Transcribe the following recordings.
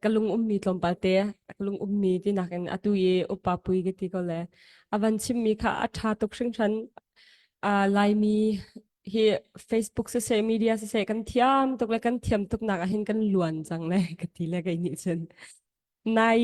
ka lung ummi tlawmpal te ka lung ummi tinak in atu i upa pui ka ti ko le avan chimmi kha a tha tuk hringhran uh, laimi hi facebook se se media se se kan thiam tuk le kan thiam tuk nak ah hin kan luan cang le ka ti le ka ni chin nai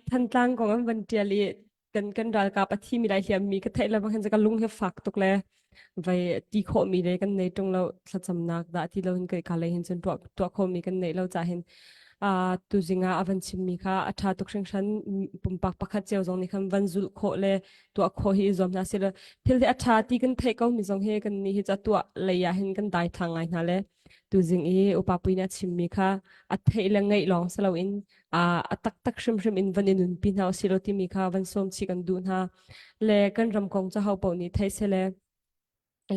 thantlang kong an van tial i kan kan ralkap a thi mi lai hiam mi ka theih le bang khan ka lung he fak tuk le vai ti khawh mi le kan nei tung lo thlacamnak dah ti lo hin kai ka lei hin cun tuah tuah kho mi kan nei lo cha hin a tu zinga avan chim mi kha a tha tuk hring hran pumpak pakhat cheu zong ni khan van zul kho le tuah kho hi i zuam hna se le thil he a tha ti kan theih ko mi zong he kan ni hi cha tuah lei ah hin kan dai thang ngai hna le Tuzing i upa pui nih a chimmi kha a theih le ngeih lawng si loin a a taktak hrimhrim in van i nunpi hna usihlaw timi kha van sawmchih kan duh hna. Le kan ram kong cu hopaoh nih thei sele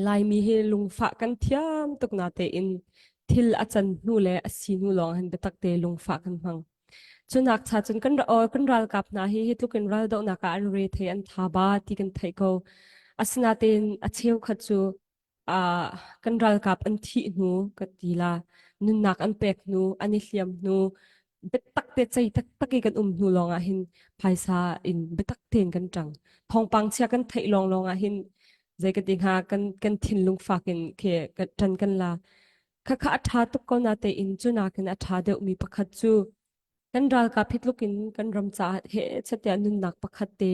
Laimi hi lungfah kan thiam tuk na tein thil a can hnu le a si hnu lawng hin biatak te lungfah kan hmang. Cu nak cha cun kan ra or kan ralkap hna hi hi tluk in raldohnak ah an re thei an tha ba ti kan thei ko. Asinatein a cheukhat cu Ah, kan ralkap an thih hnu ka ti la, nunnak an pek hnu, an i hliam hnu, biatak te cei taktak i kan um hnu lawng ah hin phaisa in biatak tein kan ṭang. Thawngpang chia kan theih lawng lawng ah hin zei ka ti hnga kan kan thinlung fak in khe ka ṭan kan la. Khakha a ṭha tuk ko na tein cu nakin a ṭha deuhmi pakhat cu Kan ralkap hi tluk in kan ram caah he chatia nunnak pakhat te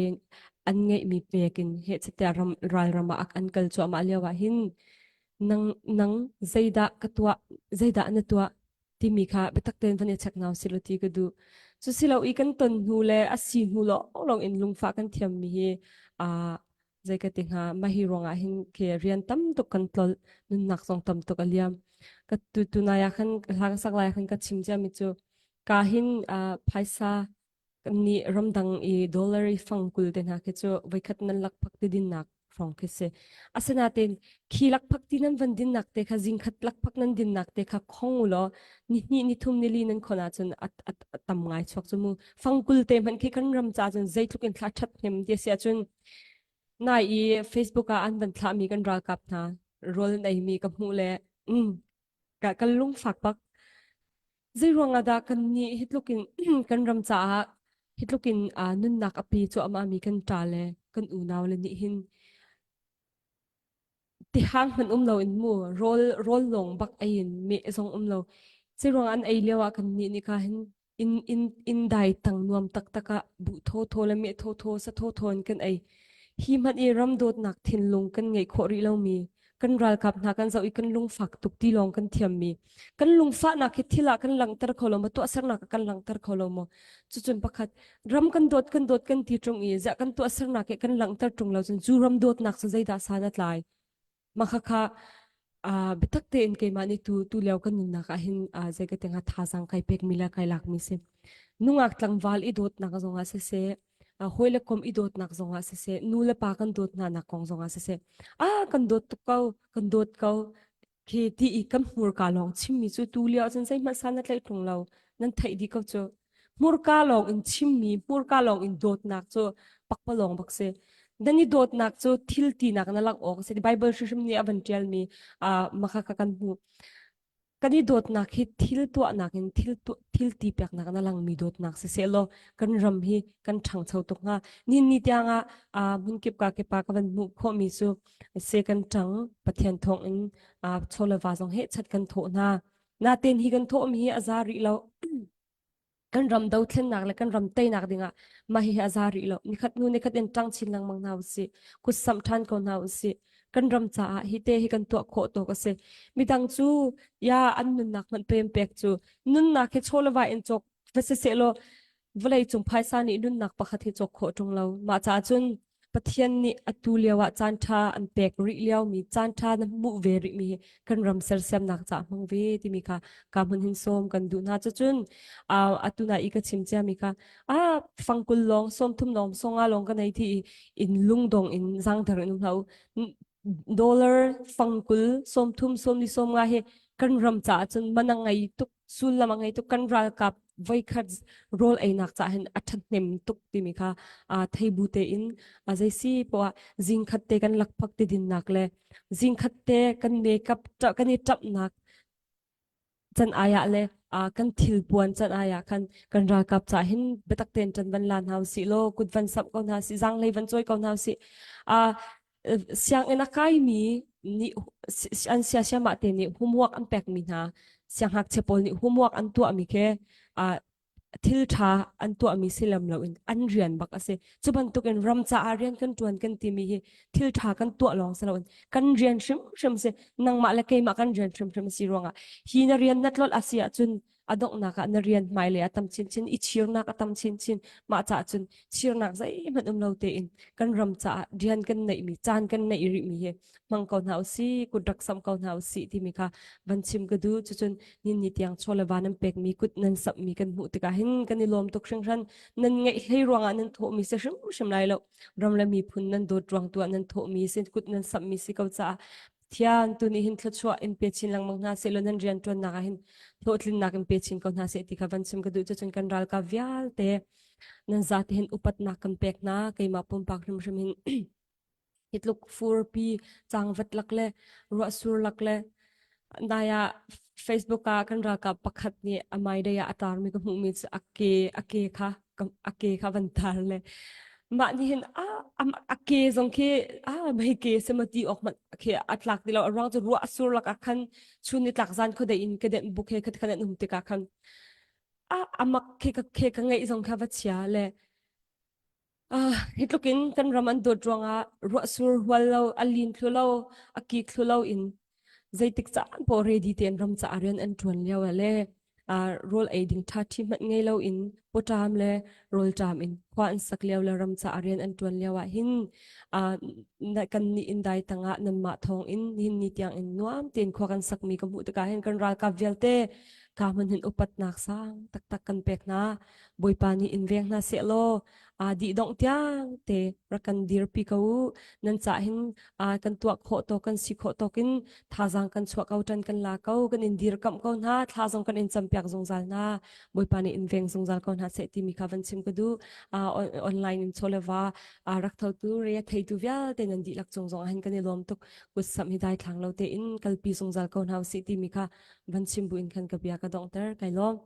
an ngeihmi pek in he chatia ram ralram ah an kal cuahmah lio ah hin nang nang zeidah ka tuah zeidah na tuah timi kha biatak tein van i check nau silo ti ka duh cu silo i kan ton hnu le a si hnu lawng lawng in lungfah kan thiammi hi a Zei ka ti hnga, mah hi ruangah hin ke rian tam tuk kan tlol, nunnak zong tam tuk a liam. Ka tu tunai ah khan hla ka sak lai khan ka chim cia mi cu ka hin uh, phaisa ni ramdang i dollar fang kul te hna khi cu voikhat nan lak phak ti din nak hrawng khi si. Asinain khi lak phak ti nan van din nak te kha zingkhat lak phak nan din nak te kha khong ulo ni hni ni thum ni li nan khona cun at at at tam ngai chuak chu mu. Fang kul te hman khi kan ram cha cun zeitluk in thla chat hnem ti sia cun Nai i Facebook ah an van thlahmi kan ralkap hna rawl neimi ka hmuh le mm, ka, kan lungfak bak. Zei ruang ah dah kan nih hitlukin kan ram caah hitlukin uh, nunnak api cuahmahmi kan ta le kan unau le nih hin Tihang hmanh um loin mu rawl rawl lawng bak ei in meh zong um lo. Ciruang an ei lio ah kan nih ni ka hin in in in dai tang nuam taktak ah bu tho tho le meh tho tho sa tho tho in kan ei. Hi hmanh i ram dawtnak thinlung kan ngei khawh rih lomi kan ralkap hna kan zoh i kan lungfak tuk ti lawng kan thiam mi kan lungfahnak hi thil ah kan langhter kho lo ma tuahsernak ah kan langhter kho lo maw cucun pakhat ram kan dawt kan dawt kan ti ṭung i ziah kan tuahsernak he kan langhter ṭung lo cun cu ram dawtnak cu zeidah sa na tlai makhakha a bitak tein keimah nih tu tu leo kan nunnak ah hin zei ka tenga thazang kai pek mi la kai lak mi si nungak tlangval i dawtnak zongah se se hoi le kom i dawtnak zongah se se nu le pa kan dawt hna nak kong zongah se se a kan dawt tuk ko kan dawt ko khi ti i kam hmurka lawng chimmi cu tu lio cun zeihmanh sa na tlei phung lo nan theih di ko cu hmurka lawng in chimmi hmurka lawng in dawtnak cu pakpalawng bak si dan i dawtnak cu thil tinak na lak awk si bible hrim nih a van tialmi a maka ka kan hmu kan i dawtnak hi thil tuahnak in thil thil ti peknak na langmi dawtnak si se law kan ram hi kan ṭhangcho tuk hnga nin ni tiang ah hmun kip ka kepa ka van hmuh khawhmi cu se kan ṭang Pathian thawngin aa chawleva zong he chat kan thawh hna. Natein hi kan thawhmi hi a za rih lo. Kan ram dothlennak le kan ram teinak dingah mah hi a za rih lo. Nikhat nu nikhat in ṭang chin lengmang hna usih. Kutsam ṭhan ko hna usih. Kan ram caah hi te hi kan tuah khawh tawk a si. Midang cu ya an nunnak hmanh pem pek cu nunnak he chawleva in cawk va si sehlaw Vawleicung phaisa nih nunnak pakhat hi cawk khawh ṭung lo. Mah caah cun Pathian nih atu lio ah caanṭha an pek rih liomi caanṭha na hmuh ve rihmi hi kan ram sersiamnak caah hmang ve timi kha ka hmun hin sawm kan duh hna. Cucun uh, atu na i ka chim ciami kha ah fangkul lawng sawmthum lawng songa lawng ka nei thi i in lungdong in zangder in um hlah u. Dollar fangkul sawmthum sawmni sawm nga hi kan ram caah cun manang ngei tuk sullam a ngei tuk kan ralkap voikhat rol einak ca hin a ṭhat hnem tuk timi kha aa thei bu tein a zeisi poah zingkhat te kan lakphak ti dinnak le zingkhat te kan makeup kan i ṭapnak can aya le a kan thil puan can aya khan kan ralkap cha hin biatak ten ṭan van la hna u si law kut van sap ko hna si zang lei van choi ko hna u si a sianginn a kaimi nih an siasiamah te nih homework an pekmi hna sianghngakchia pawl nih homework an tuahmi ke uh, thil tha an tuahmi si lem lo in an rian bak asi cu bantukin ram caah rian kan tuan kan timi hi thil tha kan tuah long se lo in kan rian hrim hrim se nangmah le keimah kan rian hrim hrim si ruangah hi na rian na tlol asi ahcun A donghnak ah na rian hmailei a tam chinchin, i chirnak a tam chinchin. Mah caah cun chirnak zeihmanh um lo tein kan ram caah rian kan neihmi, caan kan neih rihmi hi hmang ko hna usih, kut rak sam ko hna usih timi kha van chim ka duh. Cucun ninni tiang chawlewa nan pekmi kut nan sapmi kan hmuh tikah hin kan i lawm tuk hringhran. Nan ngeih hlei ruangah nan thawhmi si hrimhrim lai lo. Ram le miphun nan dawt ruang tu ah nan thawhmi si, kut nan sammi si ko caah Thiang, tu nih hin thluachuah in pe chin lengmang hna sehlaw nan rianṭuannak ah hin hlawhtlinnak in pe chin ko hna seh ti kha van chim ka duh cun kan ralkap vialte nan zate hin upatnak kan pek hna keimah pumpak hrimhrim hin hi tluk furpi changvat lak le ruahsur lak le nai ah Facebook ah kan ralkap pakhat nih a hmaidei ah a taarmi ka hmuhmi cu a ke a ke kha a ke kha van tar le mah nih hin a a ke zong khi a mei ke se ma ti awk mat khi a tlak ti lo a ruang cu ruah a sur lak ah khan chun ni tlak zan khuadei in ka den buk he khat khan an um tikah khan a amak khi ka ke ka ngeih zong kha va chia le Ah, hi tlukin kan ram an dawt ruangah ruahsur hual lo, a lin thlu lo, a kik thlu lo in zeitik caan po ready ten ram ca rian an tuan lio le uh, rol eiding tha thi mat ngei lo in potam le rol tam in khwa an sak lio le ram ca rian an tuan lio ah hin uh, na kan ni in dai tanga nan ma thong in hin ni tiang in nuam ten khwa kan sak mi ka mu tuka hin kan ral ka vialte ka man hin upat nak sang tak tak kan pek na Bawipa nih in veng hna sehlaw aa dihdongh tiangte rak kan dirpi ko u. Nan cah hin aa kan tuah khawh tawk kan si khawh tawkin thazaang kan chuah ko tan kan la ko. Kan in dirkamh ko hna. Thla zong kan in campiak zungzal hna. Bawipa nih in veng zungzal ko hna seh timi kha van chim ka du. Uh, on- online in chawlewa uh, rak thotu rea theitu vialte nan dihlak cung zong ahin kan i lawm tuk kutsam hi dai thlang lo te in kalpi zungzal ko hna u si timi kha van chim buin khan ka bia ka dongter kai lawm.